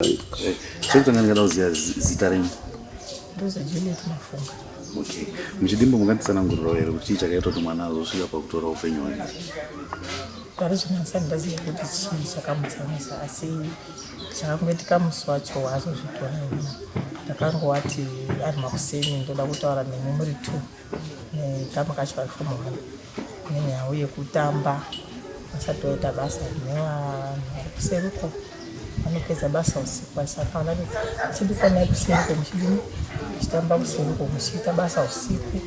Zvekutanga ndingada kuziva zita renyu. Ndozi Juliet Mafunga. Okay. Muchidimbo munganditsanangurirawo here kuti chii chakaita kuti mwana azosvika pakutora upenyu hwake? Pari zvino handisati ndaziva kuti chii chakamutsamisa asi chakangoitika musi wacho waazozvitora ina ndakangowati ari makuseni ndoda kutaura nemwe muri two nekama kacho ari fomu one Nenyaya yekutamba vasati vaita basa nevanhu vari kuseri uko vanopedza basa usiku saka vana chidikwanai kuseri uko muchidini muchitamba kuseri uko muchiita basa usiku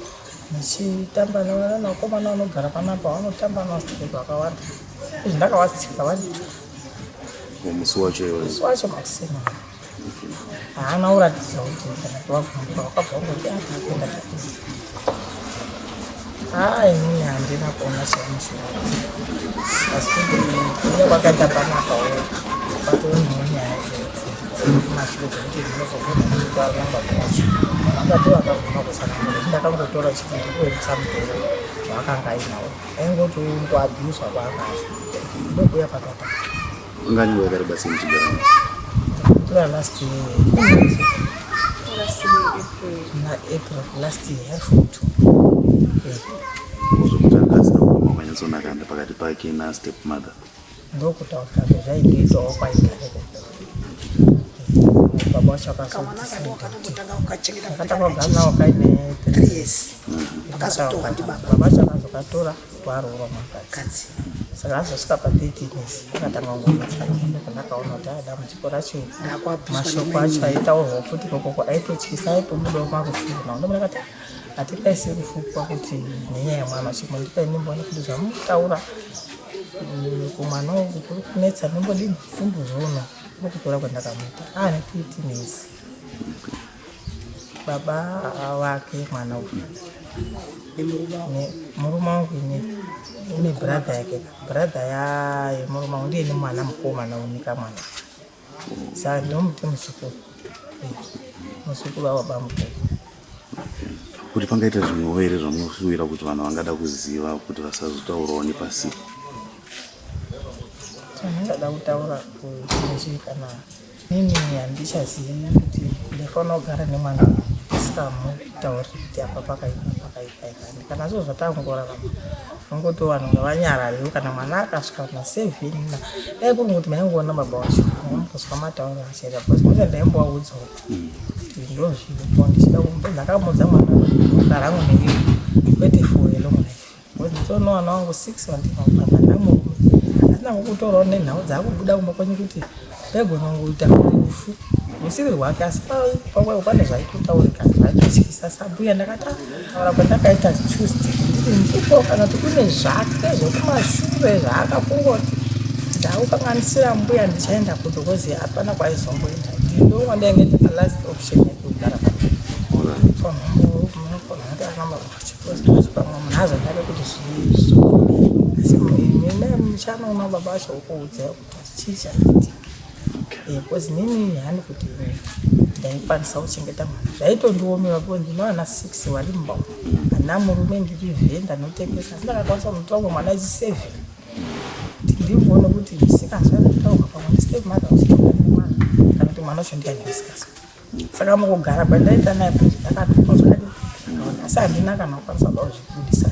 muchitamba nevana nakomana vanogara panapa vanotamba navasiteki vakawanda izvi ndakavatsika vanditu musi wacho iwe musi wacho makuseni haana kuratidza kuti ndakavabvunza wakabva kuti atakenda takuti haa inini handina kuona semusoro asi kuti kuya kwakaita panapa wo kwatoo nenyaya kumashure dzekuti ndinozogona kutoaramba kwacho vakati vakagona kusanangura ndakangotora chikiti kuendesa mudoro zvaakanga ainawo aingotiwo kuabhuswa kwaakaita ndokuya pakataka Unga nyangwe yakari basi muchigara. Kura last year. Last year April. Na April last year half to. Uzomutandasa kwa mama nyanzo nakanda pakati pake na step mother. Ndokuta utambe zvaitoita wakwa ikare. Baba chaka so. Kama naka kwa kana mutanga ukachengeta. Kata kwa gana wakaine. 3 years. Bakazotoa ndi baba. Baba chaka zokatora. Kwaroora mukadzi saka azosvika pa 13 years akatanga kungomatsanyenda kana akaona kuti aya dambudziko racho mashoko acho aitaurwa futi kokoko aitotyisa aitobudawo marufuro makundo muna kati hatingaisi kufukwa kuti nenyaya yemwana chimwe ndipai ndimboona kuti zvamutaura mm, kumwana uku kuri kunetsa ndimbodini ndimbozviona kuri kutora kwandakamuita aane 13 years baba vake mwana uyu murume wangu ine ine brother yake brother yaye murume wangu ndiye nemwana mukomana unika mwana saka ndinomuti muzukuru muzukuru wababa mukuru kuti pangaita zvimwewo here zvamunoshuvira kuti vanhu vangada kuziva kuti vasazotaurawo nepasipo chandingada kutaura kunzwi kana Ini handichazivi kuti ndifanira kugara nemwana ndisingamutauriri kuti apa pakaipa pakaipa ikani kana zvo zvatangorarama vangotiwo vanhu ngavanyarariwo kana mwana akasvika na seven na dai kuri kuti maingoona baba wacho amukozwa matauro achaita bcause mune ndaimbovaudza kuti ndozviripo ndichida kumbo ndakamuudza mwana kuti rangu neiyo kwete for a long life Mudzidzoni wana wangu 6 wandina kufamba namurume asina kukutorawo nenhau dzakubuda kumba kwenyu kuti pegonongoita rufu usiri rwake asi pakwaivo pane zvaitotaurika zvaitotyisa sabuya ndakati taura kwandakaita tuesday ndiri ndipo kana kuti kune zvake zvokumashure zvaakafunga kuti ndaukanganisira mbuya ndichaenda kudo kozi hapana kwaizomboenda ndonwa ndainge ndipalast option yekugara pamhungu because nini hani kuti ndaikwanisa kuchengeta mwana zvaitondiomera because ndinoana six vari mumba ana murume ndiri vhenda notengesa asi ndakakwanisa kuti wangu mwana ichi seven ndimboona kuti misikanzwa ndataurwa pamwe step mother usiaaa kana kuti mwana wacho ndiani misikanzwa saka mukugara kwandaita naye ndakatokonzwa asi handina kana kukwanisa kuzvibudisa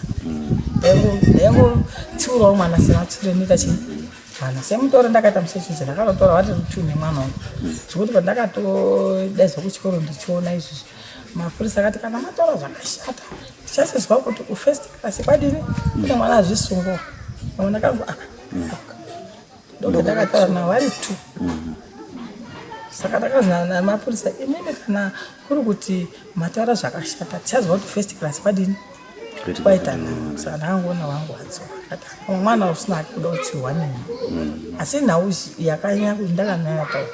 ndaingotsiurawo mwana sematsure ndita chii mwana semutoro ndakaita musechizi ndakatotora wati two nemwana uyu zvekuti pandakatodaizwa kuchikoro ndichiona izvizvi mapurisa akati kana matora zvakashata tichasizwa kuti ufirst class kwadini kune mwana azvisungwa amwe ndakango aka ndoga ndakataura navo vari two mhm. saka ndakazana namapurisa imimi kana kuri kuti mataura zvakashata tichaziva kuti first class kwadini kwaita mm. saka ndakangoona wangu wadzoka mwana usina hake kuda kutsiwa nini mm. asi nhau yakanyanya kuti ndakanaya taura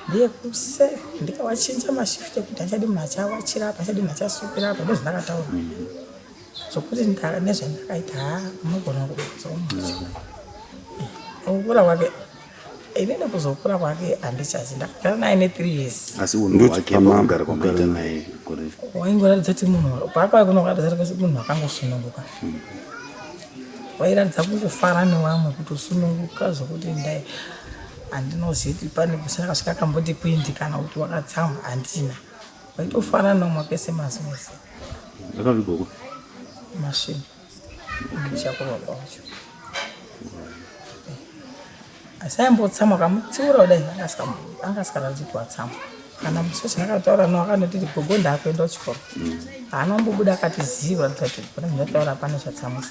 ndeyekuse ndikawachinja mashift ekuti achadi munhu achawachira apa achadi munhu achasukira apa ndozvandakataura mm. zvokuti nezvandakaita haa unogona kuzoukura kwake inini kuzokura kwake handichazi ndakagara naye nethree years asi unhu wake maugara kwamaita naye waingoratidza kuti munhu paakauya kuno kuratidza kuti munhu akangosununguka hmm. wairatidza kungofara newamwe kuti usununguka zvokuti ndai handinozivi kuti pane kusina kasvika kamboti kwindi kana kuti wakatsamwa handina Vaitofana nomwa pese mazi mese. Akavigwa kupi? Masvingo. Ndichakurwa kwacho. Asi aimbotsamwa akamutsiura kudai anga asikaratidzi kuvatsamwa. Kana musosi ndakataura no akanotiti gogo ndaakuenda kuchikoro. Haana kumbobuda akati zii kuratidza kuti pane zvataura pane zvatsamwisa.